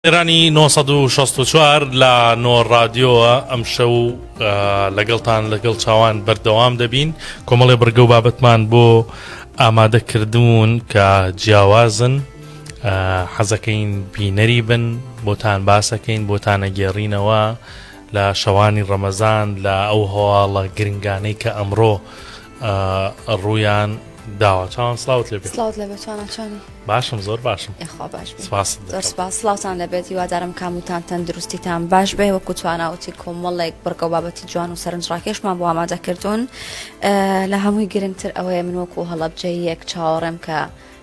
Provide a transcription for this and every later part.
ئێرانی نۆ سەد و شەست و چوار لە نۆ ڕادیۆوە ئەمشەو لەگەڵتان لەگەڵ چاوان بەردەوام دەبین کۆمەڵێ بڕگە و بابەتمان بۆ ئامادەکردوون کە جیاوازن حەزەکەین بینەری بن بۆتان باسەکەین بۆتانەگێڕینەوە لە شەوانی ڕەمەزان لە ئەو هەواڵە گرنگانەی کە ئەمڕۆ ڕویان داوا چاوان سلااوت لەبێ سلااوت لە بەچوانچانی باشم زۆر باشم خوا باش سلااوان لەبێت هیوادارم کاموتان تەندروستیتان باش بێ وەکو تواناوتی کۆمەڵێک بڕگە بابەتی جوان و سەرنجڕاکێشمان بۆ ئامادە کردوون لە هەمووی گرنگتر ئەوەیە من وەکو هەڵبجەیەک چاوەڕێم کە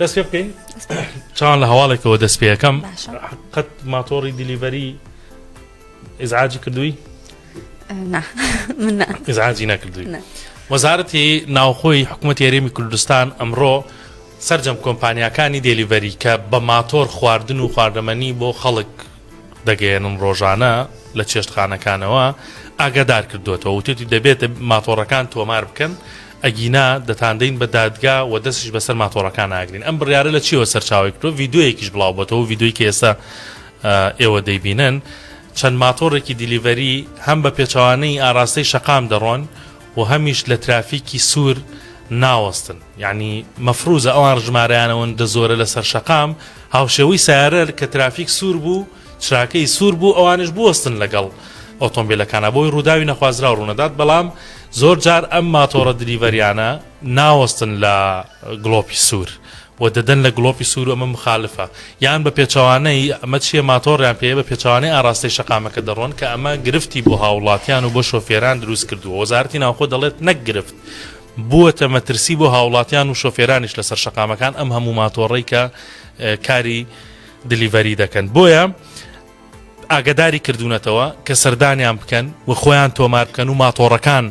دەست پێ بکەین چاوان لە هەواڵێکەوە دەست پێەکەم قەت ماتۆڕی دیلیڤەری ئزعاجی کردووی ئزعاجی نەکردووی وەزارەتی ناوخۆی حکوومەت یاریمی کوردستان ئەمڕۆ سرجەم کۆمپانیەکانی دێلیڤەری کە بە ماتۆر خواردن و خواردەمەنی بۆ خەڵک دەگەێنن ڕۆژانە لە چێشتخانەکانەوە ئاگادار کردوێتەوە وتێتی دەبێت ماتۆڕەکان تۆمار بکەن ئەگینا دەتاندەین بە دادگا وە دەستیش بەسەر ماتۆڕەکان ناگرین ئەم بڕیارە لە چیەوە سەرچاوەی کردوە ڤیدیۆیەکیش بڵاو بۆتەوە ڤیدیۆی کە ئێستا ئێوە دەیبینن چەند ماتۆڕێکی دیلیڤەری هەم بە پێچەوانەی ئاراستەی شەقام دەڕۆن و هەمیش لە ترافیکی سوور ناوەستن یعنی مەفروزە ئەوان ژمارەیانەوەن دە زۆرە لەسەر شەقام هاوشێوەی سارەر کە ترافیک سوور بوو چراکەی سوور بوو ئەوانیش بوەستن لەگەڵ ئۆتۆمبیلەکانا بۆی ڕووداوی نەخوازراو ڕوونەدات بەڵام زۆر جار ئەم ماتۆڕە دلیڤەریانە ناوەستن لە گڵۆپی سوور و دەدەن لە گڵۆپی سوور و ئەمە مخالفە یان بە پێچەوانەی ئەمە چیە ماتۆڕیان پێ بە پێچەوانەی ئاراستەی شەقامەکە دەڕۆن کە ئەمە گرفتی بۆ هاوڵاتیان و بۆ شۆفێران دروست کردووە وەزارەتی ناوخۆ دەڵێت نەک گرفت بووەتە مەترسی بۆ هاوڵاتیان و شۆفێرانیش لەسەر شەقامەکان ئەم هەموو ماتۆڕی کە کاری دلیڤەری دەکەن بۆیە ئاگداری کردوونەتەوە کە سەردانیان بکەن و خۆیان تۆمار بکەن و ماتۆڕەکان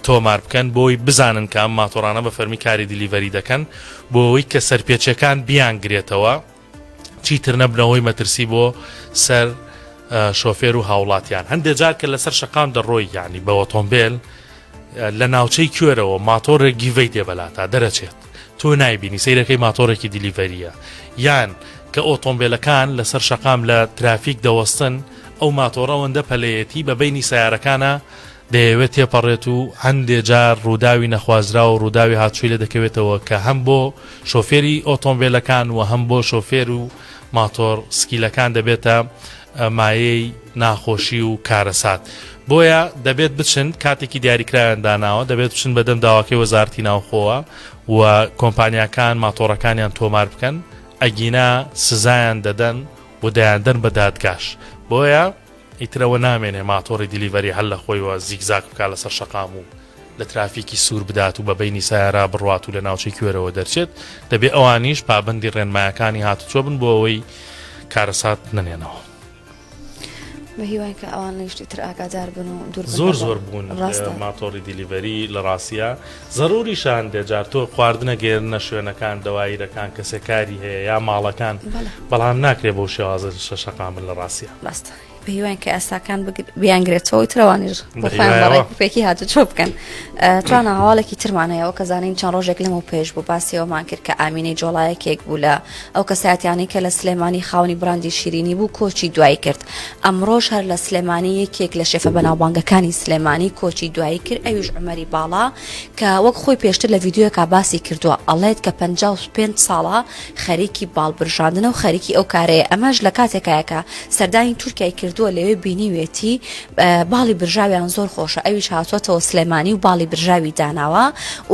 تۆمار بکەن بۆی بزانن کە ئەم ماتۆرانە بە فەرمی کاری دیلیڤەری دەکەن بۆ ئەوی کە سەرپێچەکان بیان گرێتەوە چیتر نەبنەوەی مەترسی بۆ سەر شۆفێر و هاوڵاتیان هەندێک جار کە لەسەر شقام دەڕۆی یعنی بە ئۆتۆمبیل لە ناوچەی کوێرەوە ماتۆڕێک گیڤەی دێبەلاتا دەرەچێت تۆ نایبینی سیرەکەی ماتۆڕێکی دیلیڤەریە یان کە ئۆتۆمبیلەکان لەسەر شەقام لە ترافیک دەوەستن ئەو ماتۆڕەوەندە پەلەیەتی بە بینی سیارەکانە دەیەوێت تێپەڕێت و هەندێ جار ڕووداوی نەخوازرا و ڕووداوی هاتووی لە دەکەوێتەوە کە هەم بۆ شۆفێری ئۆتۆمبیلەکان و هەم بۆ شۆفێر و ماتۆر سکیلەکان دەبێتە مایەی ناخۆشی و کارەسات بۆیە دەبێت بچن کاتێکی دیاریکراویان داناوە دەبێت بچن بەدەم داواکەی وەزارتی ناوخۆوە و کۆمپانیاکان ماتۆڕەکانیان تۆمار بکەن ئەگینا سزایان دەدەن و دەیاندەن بە دادگاش بۆیە ئیترەوە نامێنێ ماتۆڕی دیلیڤەری هەل لە خۆیوە زیکزاک بکە لەسەر شەقام و لە ترافیکی سوور بدات و بە بەینی سەیارە بڕوات و لە ناوچەی کوێرەوە دەرچێت، دەبێت ئەوانیش پابەندی ڕێنمایەکانی هاتوچۆ بن بۆ ئەوەی کارەسات نەنێنەوە. بە هیوای کە ئەوان لە شتی تر ئاگادار بن و دوور بن زۆر لەگەڵ. زۆر بوون لە ڕاستە. ماتۆڕی دیلیڤەری لە ڕاستیە زەروریشە هەندێ جار تۆ خواردنە گەیەننە شوێنەکان دەوایرەکان کەسێ کاری هەیە یا ماڵەکان بەڵێ. بەڵام ناکرێ بەو شێوازە شەقامن لە ڕاستیە. ڕاستە. پێیوان کە ئەساکان بیانگرێتەوە ئیتر ئەوانیش بۆ خۆیان بە ڕێک و پێکی هاتوچۆ بکەن توانە هەواڵێکی ترمان هەیەەوە کە زانین چەند ڕۆژێک لەمە پێش بوو باسیەوەمان کرد کە ئامینەی جۆڵایەکێک بوو لە ئەو کەساتیانی کە لە سلێمانی خاونی براندی شیرینی بوو کۆچی دوایی کرد ئەمڕۆژ هەر لە سلێمانی یەکێک لە شێفە بەناوبانگەکانی سلێمانی کۆچی دوایی کرد ئەویش عمەری باڵا کە وەک خۆی پێشتر لە ڤیددیوەکە باسی کردووە ئەڵێت کە 55 ساڵە خەریکی باڵ برژاندنە و خەریکی ئەو کارەیە ئەمەش لە کاتێکایە کە سەردانی تورکای کردووە لەوێ بینیوێتی باڵی برژاویان زۆر خۆشە ئەویش هاتووەتەوە سلێمانی و باڵی برژاوی داناوە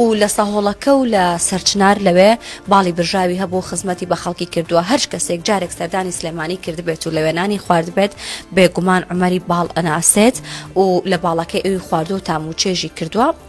و لە سەهۆڵەکە و لە سەرچنار لەوێ باڵی برژاوی هەبوو خزمەتی بە خەڵکی کردووە هەر کەسێک جارێک سەردانی سلێمانی کردبێت و لەوێنانی خواردبێت بێگومان عمەری باڵ ئەناسێت و لە باڵەکەی ئەوی خواردو تام و چێژی کردووە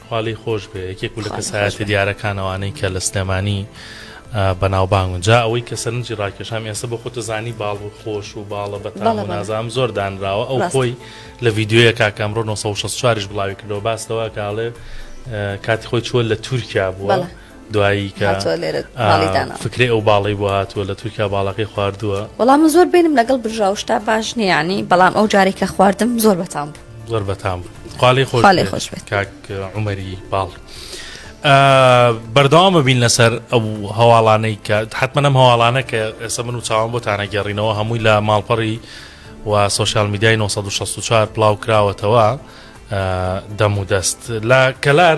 خوا لێی خۆش بێ یەکێک بوو لە کەسایەتیە دیارەکان ئەوانەی کە لە سلێمانی بەناوبانگون جا ئەوەی کە سەرنجی ڕاکێشام ئێستا بۆ خۆتە زانی باڵ و خۆش و باڵە بەتاڵە نازام زۆر دانراوە ئەو خۆی لە ڤیددیوە کاکەم ڕۆ 1964 بڵاوی کردەوە باستەوە کاڵێ کاتی خۆی چووە لە تورکیا بووە. دوایی کە هاتووە لێرە ماڵی دانا. فکرەی ئەو باڵەی بۆ هاتووە لە تورکیا باڵەکەی خواردووە وەڵا من زۆر بینم لەگەڵ برژاو شتا باش نییە ینی بەڵام ئەو جارێک کە خواردم زۆر بەتام بوو زۆر بەتام بوو. خاڵی خۆش خاڵی بێت. خۆش بێت. کاک عمەری باڵ بەردەوام ببین لەسەر ئەو هەواڵانەی کە حتممەەم هەواڵانە کە ئێستا من و چاوان بۆ تانەگەڕینەوە هەمووی لە ماڵپەڕی و سوسیال میدیای 1964 پلااو کراوەتەوە ئا، دەم و دەست لە کەلار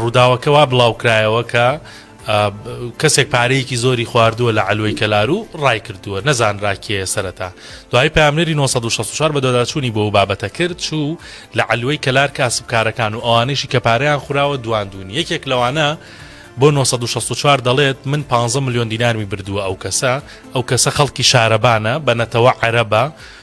ڕووداوەکە وا بڵاوکرایەوە کە کەسێک پارەیەکی زۆری خواردووە لە علوی کەلار و ڕای کردووە نەزانراکێ سەرەتا دوای پامنەری 1964 بە دۆداچوونی بۆ بابەتە کرد چوو لە علوی کەلار کاسبکارەکان و ئەوانەیشی کە پارەیان خوراوە دواندون یەکێک لەوانە بۆ 1964 دەڵێت من 15 میلیۆن دینارمی بردووە ئەو کەسە ئەو کەسە خەڵکی شارەبانە بە نەتەوە عەرەبە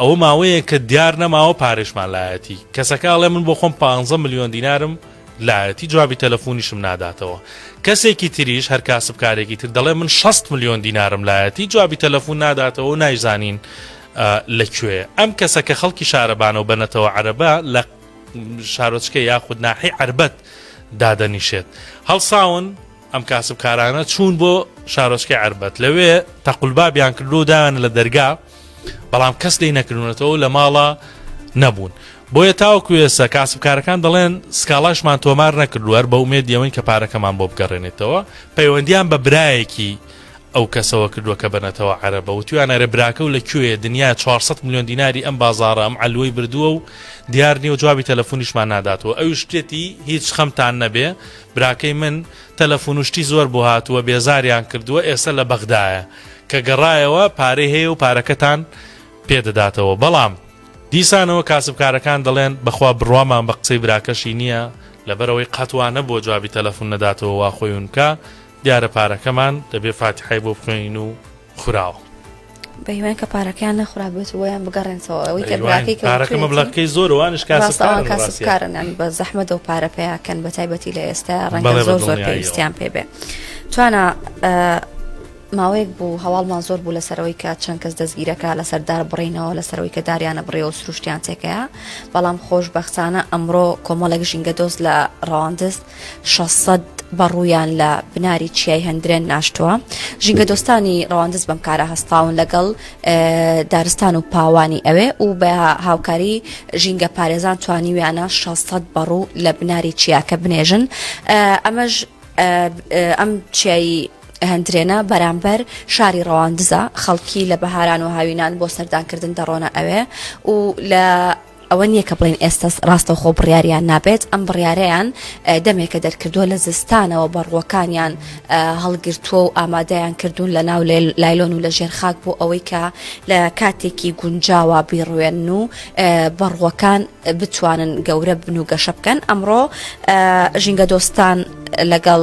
ئەوە ماوەیە کە دیار نەماوە پارێشمان لایەتی کەسەکە ئەڵێ من بۆ خۆم 15 میلیۆن دینارم لایەتی جوابی تەلەفۆنیشم ناداتەوە کەسێکی تریش هەر کاسبکارێکی تر دەڵێ من 6 میلیۆن دینارم لایەتی جوابی تەلەفۆن ناداتەوە نایزانین لەکوێ ئەم کەسە کە خەڵکی شارەبانەوە بەنەتەوە عەرەبە لە شارۆچکە یاخود ناحی عربەت دادەنیشێت هەڵساون ئەم کاسبکارانە چوون بۆ شارۆچکەی عربەت لەوێ تەقلبابیان کردو و دایان لە دەرگا بەڵام کەس لی نەکردونەتەوە لە ماڵە نەبوون بۆیە تاوەکو ێستا کاسبکارەکان دەڵێن سکاڵاشمان تۆمار نەکردوەر بە ئومێد یەوەین کە پارەکەمان بۆ بگەڕێنێتەوە پەیوەندیان بە برایەکی ئەو کەسەوە کردووە کە بەنەتەوە عەرەبە و تویانەرە براکە و لە کوێ دنیا 400 میلیۆن دیناری ئەم بازارە ئەم ئەلوەی بردووە و دیار نیە و جوابی تەلەفۆنیشمان ناداتەوە ئەوی شتێتی هیچ خەمتان نەبێ براکەی من تەلەفون و شتی زۆر بۆ هاتووە بێزاریان کردووە ئێستا لە بەغدایە کە گەڕایەوە پارەی هەیە و پارەکەتان پێ دەداتەوە بەڵام دیسانەوە کاسبکارەکان دەڵێن بەخوا بڕوامان بە قسەی براکەشی نییە لەبەرەوەی قەت وا نەبووە جوابی تەلەفون نەداتەوە وا خۆی ونکا دیارە پارەکەمان دەبێ فاتیحای بۆ بخوێنین و خوراوە. بەهیوای کە پارەکەیان نەخورابێت و یان بگەڕێنسەوە ئەوەی کە براکەی پارەکە مەبلەکەی زۆر وانش کاسەکان کاسبکارن یان بە زەحمە دەو پارە پیاکەن بە تایبەتی لە ئێستا ڕەنگە زۆر زۆر پێویستیان پێ بێ توانە ماوەیەک بوو هەواڵمان زۆر بوو لەسەرەوەی کە چەند کەس دەستگیرەکە لەسەر دار بڕینەوە لەسەرەوەی کە داریانە بڕێەوە سروشتیان تێکەیە بەڵام خۆش بەخسانە ئەمڕۆ کۆمەڵێک ژینگە دۆست لە ڕاندست شەش سەد بە ڕوویان لە بناری چیای هەندرێن ناشتووە ژینگە دۆستانی ڕەواندز بەم کارە هەستاون لەگەڵ دارستان و پاوانی ئەوێ و بە هاوکاری ژینگە پارێزان توانیویانە 600 بەڕوو لە بناری چیاکە بنێژن ئەمەش ئەم چیایی هەندرێنە بەرامبەر شاری ڕەواندزە خەڵکی لە بەهاران و هاوینان بۆ سەردانکردن دەڕۆنە ئەوێ و لە ئەوە نییە کە بڵێین ئێستا ڕاستەوخۆ بڕیاریان نابێت، ئەم بڕیارەیان دەمێکە دەرکردووە لە زستانەوە بەڕووەکانیان هەڵگرتووە و ئامادەیان کردوون لە ناو لایلۆن و لە ژێر خاک بۆ ئەوەی کە لە کاتێکی گونجاوە بیڕوێنن و بەڕووەکان بتوانن گەورە بن و گەشە بکەن ئەمڕۆ ژینگەدۆستان لەگەڵ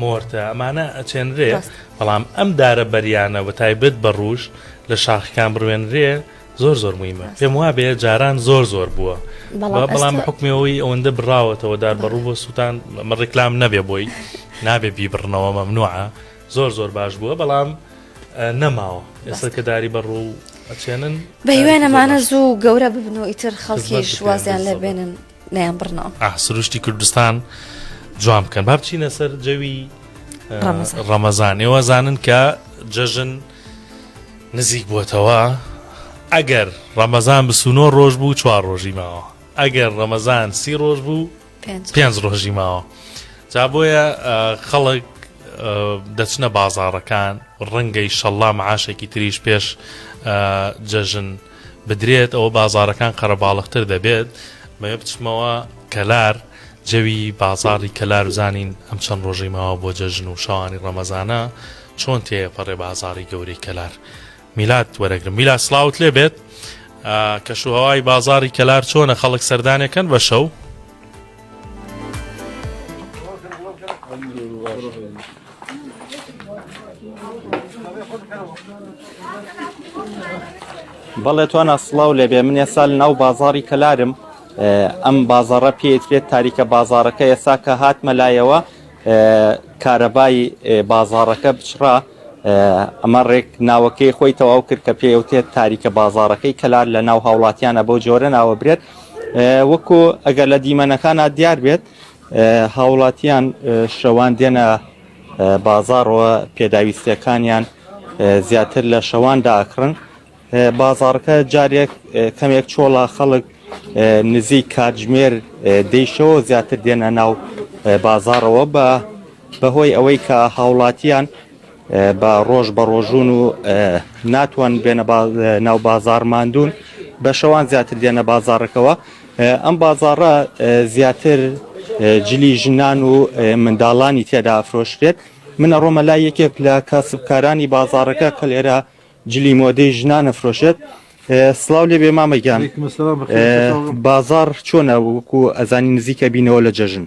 مۆرتە ئەمانە ئەچێنرێ بەڵام ئەم دارە بەریانە بە تایبەت بە ڕوژ لە شاخکان بڕوێنرێ زۆر زۆر مهمە پێم وابێ جاران زۆر زۆر بووە بەڵام حکمەوەی ئەوەندە بڕاوەتەوە دار بەڕوو بۆ سووتان مە ڕێکلام نەبێ بۆی نابێ بیبڕنەوە مەمنوعە زۆر زۆر باش بووە بەڵام نەماوە ئێستا کە داری بەڕوو ئەچێنن بە هیوانەمانە زوو گەورە ببن و ئیتر خەڵکیش وازیان لێبێنن نەیان بڕنەوە ئاه سروشتی کوردستان جوان بکەن با بچینە سەر جەوی ڕەمەزان ئێوە زانن کە جەژن نزیک بووتەوە ئەگەر ڕەمەزان بسوونۆ ڕۆژ بوو چوار ڕۆژی ماوە ئەگەر ڕەمەزان سی ڕۆژ بوو پێنج ڕۆژی ماوە جا بۆیە خەڵک دەچنە بازارەکان ڕەنگەی شەڵام عاشێکی تریش پێش جەژن بدرێت ئەوە بازاڕەکان قەرەباڵغتر دەبێت مەوێ بچمەوە کەلار جەوی بازاڕی کەلار بزانین ئەم چەند ڕۆژەی ماوە بۆ جەژن و شەوانی ڕەمەزانە چۆن تێپەڕێ بازاڕی گەورەی کەلار میلات وەرەگرم میلا سلااوت لێ بێت کەشوهوای بازاری کەلار چۆنە خەڵک سەردانەکەن بە شەو بەڵێ توانا سڵاو لێبێ من ێسال ناو بازاری کەلارم ئەم بازارە پێترێت تاریکە بازارەکە ئێسا کە هاتمە لایەوە کارەبای بازارەکە بچڕا ئەمە ڕێک ناوەکەی خۆی تەواو کرد کە پێوتێت تاریکە بازارەکەی کەلار لە ناو هاوڵاتیانە بەو جۆرە ناوە برێت وەکو ئەگەر لە دیمەنەکانە دیار بێت هاوڵاتیان شەوان دێنە بازاڕەوە پێداویستیەکانیان زیاتر لە شەوان داکڕن بازاڕەکە جارێک کەمێک چۆڵا خەڵک نزیک کاتژمێر دەیشەوە زیاتر دێنە ناو بازاڕەوە بە بەهۆی ئەوەی کە هاوڵاتیان بە ڕۆژ بە ڕۆژون و ناتوان بێنە ناو بازار ماندون بە شەوان زیاتر دێنە بازارەکەەوە ئەم بازارە زیاتر جلی ژنان و منداڵانی تێدا ئەفرۆشرێت منە ڕۆمە لای یەکێک لە کاسبکارانی بازارەکە کە لێرە جلی مۆدەی ژنانە فرۆشێت سلااو لێ بێ مامەگیان بازار چۆنە وەکو ئەزانی نزیکە بینەوە لە جەژن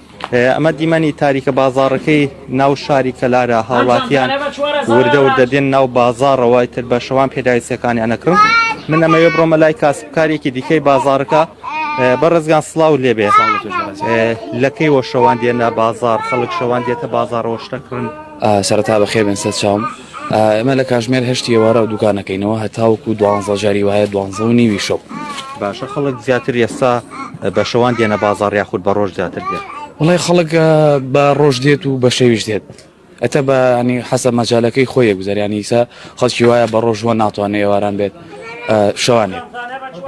ئەمە دیمەنی تاریکە بازاڕەکەی ناو شاری کەلارە هاوڵاتیان وردە وردە دێن ناو بازاڕەوە تر بە شەوان پێداویستەکانیان نەکڕم من ئەمەوێ بڕۆمە لای کاسبکارێکی دیکەی بازارەکە بە ڕزگان سلااو لێبێ لەکەی وە شەوان دێنە بازار خەڵک شەوان دێتە بازارەوە شتەکڕن سەرتا بە خێبێن سەر چاوم ئێمە لە کاژمێر هەشتی ئێوارە و دوکانەکەینەوە هەتاوکو دوانزە جاری وایە دوانزە و نیوی شەو باشە خەڵک زیاتر ئێستا بە شەوان دێنە بازار یاخود بە ڕۆژ زیاتر دێت وڵی خەڵک بە ڕۆژ دێت و بە شەویش دێت ئەتە بە ینی حەسە مەجالەکەی خۆی گوزەریانیسا خەڵکی وایە بە ڕۆژوە ناتوانێت ئێواران بێت شوانێت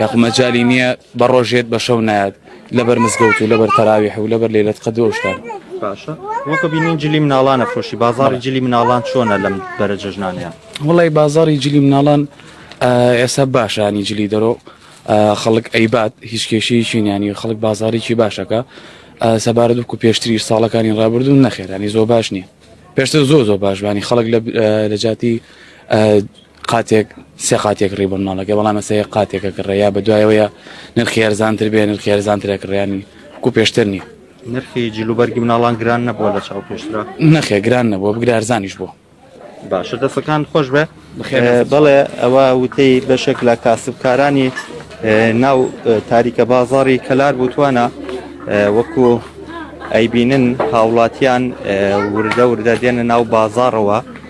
یاخمەجای نییە بە ڕۆژێت بە شەو نایەت لەبەر مزگەوت و لەبەر تەراویح و لەبەر لەیلەت قەدر و ئەو شتانە باشە وەکو بینین جلی مناڵان ئەفرۆشی بازاڕی جلی مناڵان چۆنە لەم بەرە جەژنانەیە وڵی بازاڕی جلی مناڵان ئێستا باشانی جلی دەرۆ خەڵک ئەیبات هیچ کێشەیەکی نیانی خەڵک بازارێکی باشەکە سەبارەت وکو پێشتری ساڵەکانی ڕابردوو نەخێرانی زۆ باش نییە پێشتر زۆ زۆ باشبانی خەڵک لە جاتی قاتێک سێ قاتێک ڕی بە مناڵەکە بەڵام مەسە یە قاتێکە کڕێ یا بە دوایەوەیە نرخی هەرزانتر بێ نرخی هەرزانترە کڕیانی کو پێشتر نیە نرخی جلوبەرگی مناڵان گران نەبووە لە چاو پێشرا نەخێ گران نەبووە بگرارزانیش بوو باشە دەستەکان خۆش بێ بەڵێ ئەوە وتەی بەشێک لە کاسبکارانی ناو تاریکە بازاری کەلار بوتوانە وەکو ئەیبینن هاوڵاتیان وردە وردە دێنە ناو بازارەوە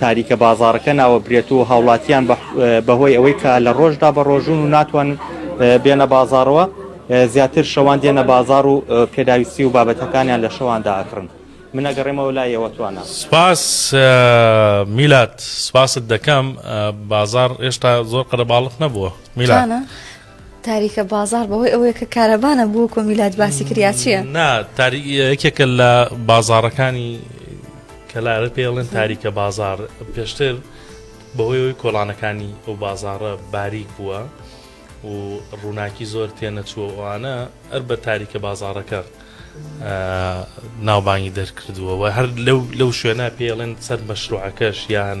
تاریکە بازاڕەکە ناوەبرێت و هاوڵاتیان بەهۆی ئەوەی کە لە ڕۆژدا بە ڕۆژون و ناتوان بێنە بازاڕەوە زیاتر شەوان دێنە بازار و پێداویستی و بابەتەکانیان لە شەواندا ئەکڕن من ئەگەڕێمەوە لای ئێوە توانە سپاس میلاد سپاست دەکەم بازار هێشتا زۆر قەرەباڵغ نەبووە میلاد. تاریکە بازار بەوەی ئەوەیە کە کارەبا نەبوو کۆ میلاد باسی کریا چییە نا تاری یەکێکە لە بازارەکانی کەلارە پێڵێن تاریکە بازار پێشتر بەهۆی ئەوی کۆڵانەکانی ئەو بازارە باریک بووە و ڕووناکی زۆر تێنەچووە ئەوانە ئەر بە تاریکە بازارەکە ناوبانگی دەرکردووە و هەر لەو لەو شوێنە پێڵێن سەر مەشروعەکەش یان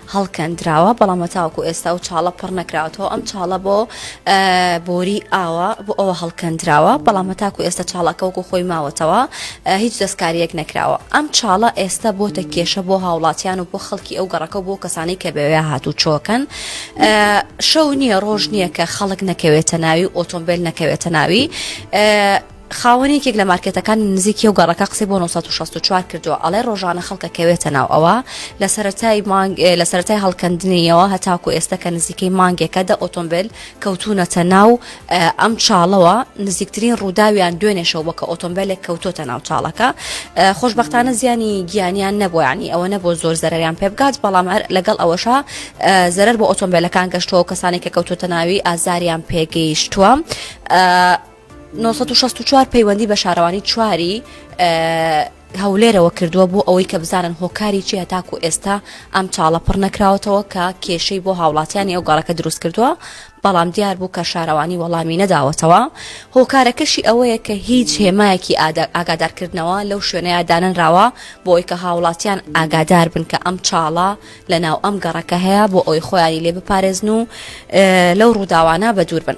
هەڵکەندراوە بەڵام هەتاوەکو ئێستا ئەو چاڵە پڕ نەکراوەتەوە ئەم چاڵە بۆ بۆری ئاوە بۆ ئەوە هەڵکەندراوە بەڵام هەتاکو ئێستا چاڵەکەوەکو خۆی ماوەتەوە هیچ دەستکاریەک نەکراوە ئەم چاڵە ئێستا بۆتە کێشە بۆ هاوڵاتیان و بۆ خەڵکی ئەو گەڕەکە بۆ کەسانی کە بەوێ هاتوو چۆکەن شەو نییە ڕۆژ نییە کە خەڵک نەکەوێتە ناوی ئۆتۆمبیل نەکەوێتە ناوی خاوەنی یەکێک لە مارکێتەکانی نزیکی ئەو گەڕەکە قسەی بۆ نۆ سەد و شەست و چوار کردووە، ئەڵێ ڕۆژانە خەڵک ئەکەوێتە ناو ئەوە، لە سەرەتای مانگ لە سەرەتای هەڵکەندنیەوە هەتاکوو ئێستە کە نزیکەی مانگێکە دە ئۆتۆمبێل کەوتوونەتە ناو ئەم چاڵەوە، نزیکترین ڕووداویان دوێنێ شەو بووە کە ئۆتۆمبێلێک کەوتۆتە ناو چاڵەکە، خۆشبەختانە زیانی گیانیان نەبووە یانی ئەوە نەبووە زۆر زەرەریان پێ بگات، بەڵام لەگەڵ ئەوەشا زەرەر بۆ ئۆتۆمبێلەکان گەشتووە و کەسانێک کە کەوتۆتە ناوی ئازاریان پێگەیشتووە. نۆ سەد و شەست و چوار پەیوەندی بە شارەوانی چواری هەولێرەوە کردووە بۆ ئەوەی کە بزانن هۆکاری چیە تاکو ئێستا ئەم چاڵە پڕ نەکراوەتەوە کە کێشەی بۆ هاوڵاتیانی ئەو گەڕەکە دروست کردووە بەڵام دیار بوو کە شارەوانی وەڵامی نەداوەتەوە هۆکارەکەشی ئەوەیە کە هیچ هێمایەکی ئاگادارکردنەوە لەو شوێنەیە دانەنراوە بۆی کە هاوڵاتیان ئاگادار بن کە ئەم چاڵە لە ناو ئەم گەڕەکە هەیە بۆ ئەوی خۆیانی لێ بپارێزن و لەو ڕووداوانە بە دوور بن.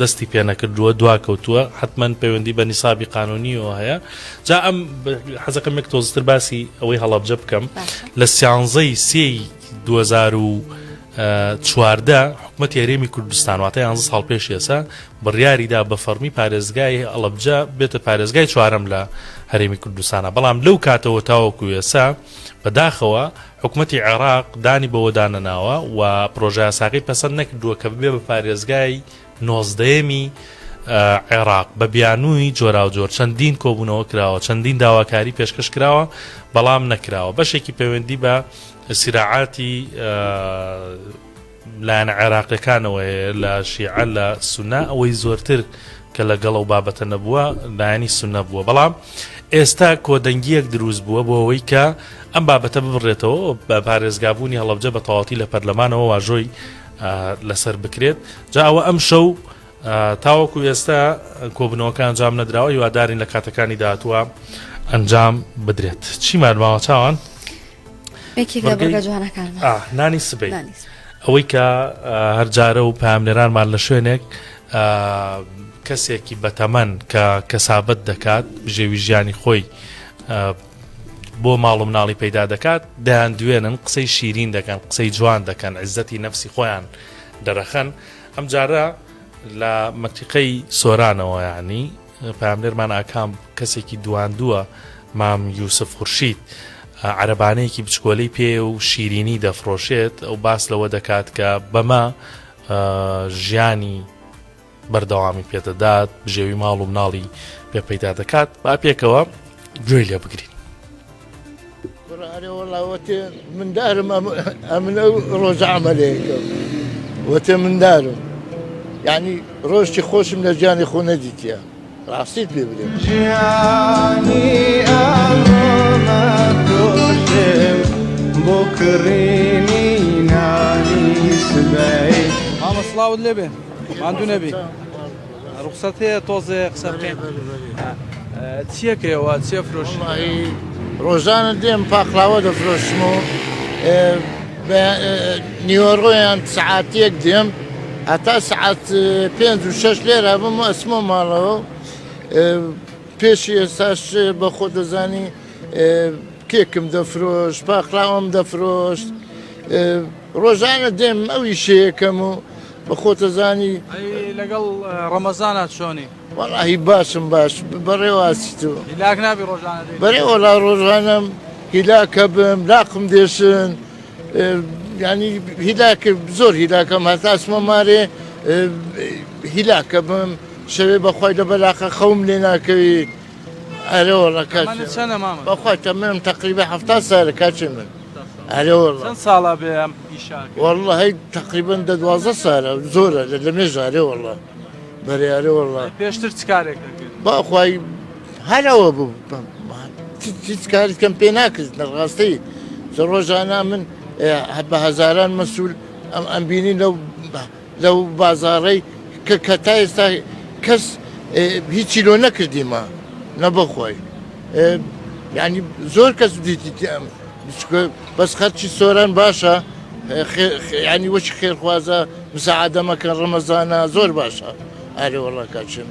دەستی پێ نەکردووە دواکەوتووە حتمما پەیوەندی بە نیسابی قانونیەوە هەیە جا ئەم حەزەکەم یەک تۆزتر باسی ئەوەی هەڵبجە بکەم لە سیانزەی سێ 2014 حکومەت یاریێمی کوردستان واتە یان ساڵ پێش ێسا بڕیاریدا بە فەرمی پارێزگای ئەڵبجە بێتە پارێزگای چوارم لە هەرێمی کوردستانە بەڵام لەو کاتەوە تاوەکو ێسا بەداخەوە حکومەتی عێراق دانی بەوەدا نەناوە و پرۆژەیاساکەی پەسەند نەکردووە کە ببێ بە پارێزگای نۆزدەیەمی عێراق بە بیانووی جۆراوجۆر چەندین کۆبوونەوە کراوە، چەندین داواکاری پێشکەش کراوە بەڵام نەکراوە بەشێکی پەیوەندی بە سیراعاتی. لایەنە عێراقیەکانەوە هەیە لە شیعە لە سونە ئەوەی زۆرتر کە لە گەڵەو بابەتە نەبووە لایەنی سونە بووە بەڵام ئێستا کۆدەنگیەک دروست بووە بۆ ئەوەی کە ئەم بابەتە ببڕێتەوە بە پارێزگابوونی هەڵبجە بە تەواتی لە پەرلەمانەوە واژۆی لەسەر بکرێت جا ئەوە ئەم شەو تاوەکو ئێستا کۆبنەوەکان جام نەدراوە هیوادارین لە کاتەکانی داهتووە ئەنجام بدرێت چی مارماوە چاوان؟ نانی سبەی ئەوەی کە هەرجارە و پامنێرانمان لە شوێنێک کەسێکی بەتەمەن کە کەسابەت دەکات بژێوی ژیانی خۆی بۆ ماڵ و مناڵی پەیدا دەکات دەیان دوێنن قسەی شیرین دەکەن قسەی جوان دەکەن عزەتی نەفسی خۆیان دەرەخەن ئەم جارە لە مەتیقەی سۆرانەوە ینی پەیامنێرمان ئاکام کەسێکی دواندووە مام یوسف خورشید عەرەبانەیەکی بچکۆلەی پێ و شیرینی دەفرۆشێت ئەو باس لەوە دەکات کە بەمە ژیانی بەردەوامی پێدەدات بژێوی ماڵ و مناڵی پێ پەیدا دەکات با پێکەوە گوێی لێ بگرین کوڕە ئەرێ وەڵا وەتێ مندارم ئەم- ئەمنە و ڕۆژە عەمەلەیەکە وەتێ مندارم یعنی ڕۆژی خۆشم لە ژیانی خۆ نەدیتیە ڕاستیت پێ بلێ جیانی ئەمڕۆمە دۆشێم بۆ کڕینی نانی سبەی مامە سڵاوت لێبێ ماندوو نەبی. ڕوخسەت هەیە تۆزێ قسە بکەین چییە کرێوە چیە فرۆش ڕۆژانە دێم پاقلاوە دەفرۆشم و نیوەڕۆیان سعاتێک دێم هەتا سعات پێنج و شەش لێرە بم و ئەسمۆ ماڵەوە پێشی ئێستاش بە خۆ دەزانی کێکم دەفرۆش پاقلاوەم دەفرۆشت ڕۆژانە دێم ئەوی شەیەکەم و بە خۆتە زانی لەگەڵ ڕەمەزانا چۆنی وەڵاهی باشم باش بەڕێواسی تۆ هیلاک نابی ڕۆژانە بەێ وەڵا ڕۆژانم هیلاکە بم لاقم دێشن ینی هیلاک زۆر هیلاکەم هەتاسمە مارێ هیلاکە بم شەوێ بەخوای لە بەلاقە خەوم لێ ناکەویت ئەرێ وەڵا کاچێ من تەمەنت چەنە مامە؟ بەخوا تەمەنم تەقریبا حەفتا سالە کاچێ من ئەرێ وەڵا چەند ساڵە بێ ئەم ئیشە ئەکەی؟ وەڵا هەی تەقریبەن دە دوازدە سالە زۆرە لە لەمێژە ئەرێ وەڵا بەرێ ئەرێ وەڵا ئەی پێشتر چ کارێک ئەکرد؟ بەخوای هەر ئەوە بوو هیچ کاریت کەم پێ ناکرد لە ڕاستەی چ ڕۆژانە من بە هەزاران مەسول ئەم ئەمبینی لەو لەو بازاڕەی کە کە تا ئێستا کەس هیچی لۆ نەکردیمە نەبەخۆی یعنی زۆر کەس دیتی بەس خەرچی سۆران باشە ینی وەچ خێرخوازە مساعدەمەکە ڕەمەزانە زۆر باشە ئارێوەڵاکچێن.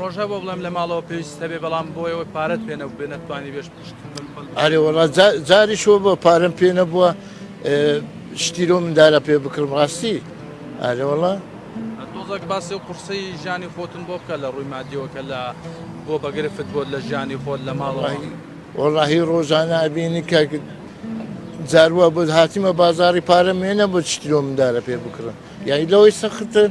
ڕۆژە بۆ بڵێم لە ماڵەوە پێویست دەبێ بەڵام بۆیەوە پارەت پێ نەبێ نەتوانی بێش پشت ئارێوەڵا جاری شۆ بۆ پارەم پێ نەبووە شتیرۆ مندارە پێ بکڕم ڕاستی ئارێوەڵا تۆزەک باسی و قورسی ژیانی خۆتن بۆ بکە لە ڕووی مادیەوە کە لە بۆ بەگرفت بۆت لە ژیانی خۆت لە ماڵی وەڵاهی ڕۆژانە ئەبینی کە جاروە بۆ هاتیمە بازاری پارە مێنە بۆ شتیرۆ مندارە پێ بکڕن یای لەوەی سەختن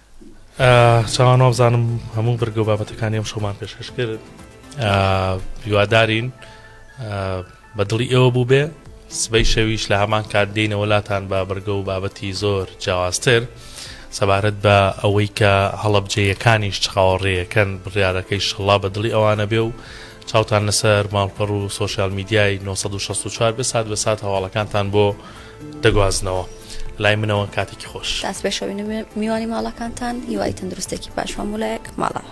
چاوان وابزانم هەموو بەرگە و بابەتەکانی ئەم شەومان پێشکەش کرد هیوادارین بە دڵی ئێوە بوو بێ سبەی شەویش لە هەمان کات دێنەوە لاتان بە بەرگە و بابەتی زۆر جیاوازتر سەبارەت بە ئەوەی کە هەڵەبجەیەکانیش چاوەڕێیەکەن بڕارەکەی شەڵا بە دڵی ئەوانە بێ و چاوتان لەسەر ماڵپەڕ و سۆشیال میدیای نۆ سەد و شەست و چوار بێت سات بە سات هەواڵەکانتان بۆ دەگوازنەوە لای منەوە کاتێکی خۆش. داست پێشەوین و میوانی ماڵەکانتان هیوای تەندروستێکی باش مامولایەک ماڵەوە.